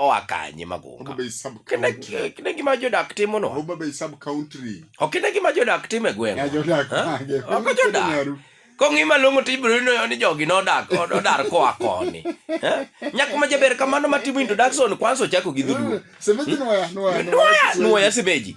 oa kanye magunga Homa Bay sub kine county. ki- kine gima jodak timo no Homa Bay sub country. ok kine gima jodak timo e Ya gweng jodak Ha? mage. Ok Piny jodak. Nyaru. kong'i malong'o to ibiro yudo ni jogi nodak odar koa koni Eh? nyako ma jaber kamano matimo introduction kwanza ochako gi dholuo Sementi nwaya, nwaya, Nwoya, nwoya semeji.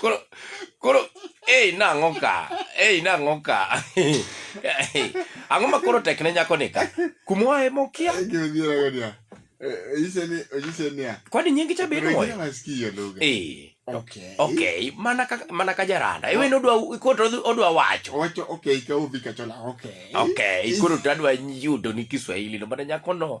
koro koro ei nang'o ka ei nang'o ka ang'o ma koro tek ne nyako ni ka kumwa e mokia kwani nyingi cha bedo moyo eh okay okay mana ka mana ka jaranda iwe no dwa koro odwa wacho wacho okay ka ubi ka chola okay okay koro tadwa yudo ni kiswahili no mana nyako no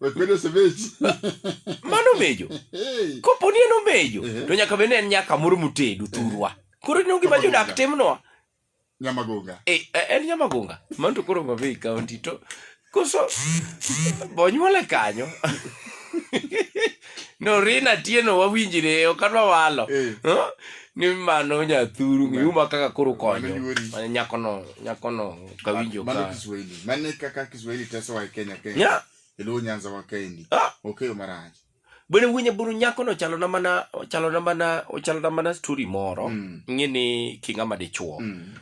Wekwede osebechi. mano omejo Hey. kopo ni en omejo Ehe. to nyaka bed ni en nyaka moro motedo thurwa koro ineno gima Nyamagonga. jodak timnwa Nyamagonga. Eh, eh, en nyamagonga mano to koro Homa Bay county to koso bonyuole kanyo no rina tieno wawinjire ok adwa walo Eh. Huh? ni mano nyathuru miuma kaka koro konyo Mano yuori. Mane nyakono nyakono kawinjo Mano ka Kiswahili. Mane kaka Kiswahili tesowa e Kenya kae. nya E Luo Nyanza wa kaendi. Ah. Okeyo marach. bwene winye buru nyakono chalona mana chalona mana ochalona mana story moro Mm. ing'e ni king'ama dichuo Mm.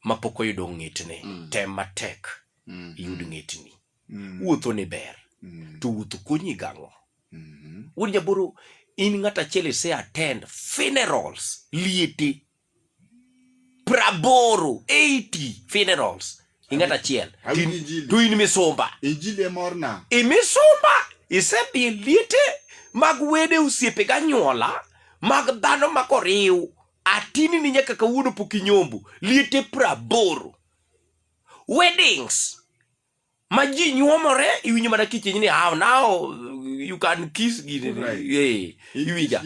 ma pok oyudo ng'etne, mm. tem matek mm. iyud ng'etni. Mm. Wuotho ni ber, mm. to wuotho konyi gang'o? Mm. Wuod Nyaboro, in ng'at achiel ise attend funerals liete praboro 80 funerals i ng'at achiel to in misumba i misumba isedhi liete mag wede osiepe ganyuola mag dhano ma koriw atini ni nyaka kawuono pok inyombo liete praboro weddings ma ji nyuomore iwinjo mana kichiny ni how now you can kiss gini right. hey, iwinja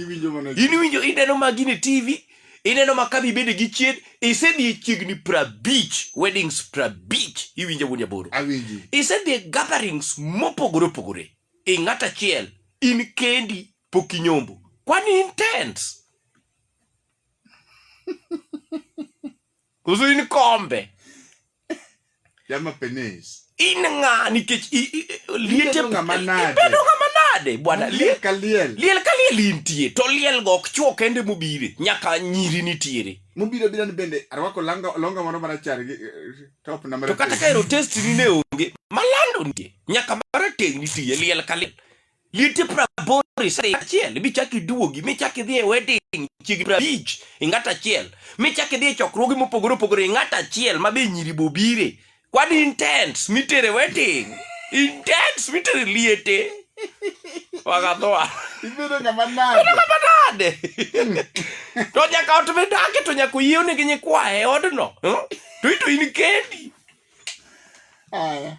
in iwinjo ineno ma gini tv ineno ma kabi bede gi chiet isedhi e chiegni prabich weddings prabich iwinjo wuon jaboro isedhi e gatherings mopogore opogore ing'at achiel in kendi pok inyombo kwani intense oso in kombe Jama penis. in ng'a nikech i- i- i- liete Ibedo ng'ama nade? ibedo ng'ama nade bwana Liel liel ka liel. liel ka liel intie to liel go ok chuo kende mobire nyaka nyiri nitiere Mobiro bira ni bende arwako langa longa moro marachar gi eh, top na to marateng'. kata ka ero test ni ne onge malando nitie nyaka marateng' nitie liel ka liel liete praboro isare achiel michak iduogi michak idhi e wedding chiegni prabich ing'at achiel michak idhi e chokruoge mopogore opogore ing'at achiel ma be nyiri bobire kwan intents mitere wedding intents mitere liete wakadhoa Ibedo ng'ama nade? nade to nyaka ot midake to nyaka oyiewne gi nyikwaye e odno hmm? to ito in kendi Aya.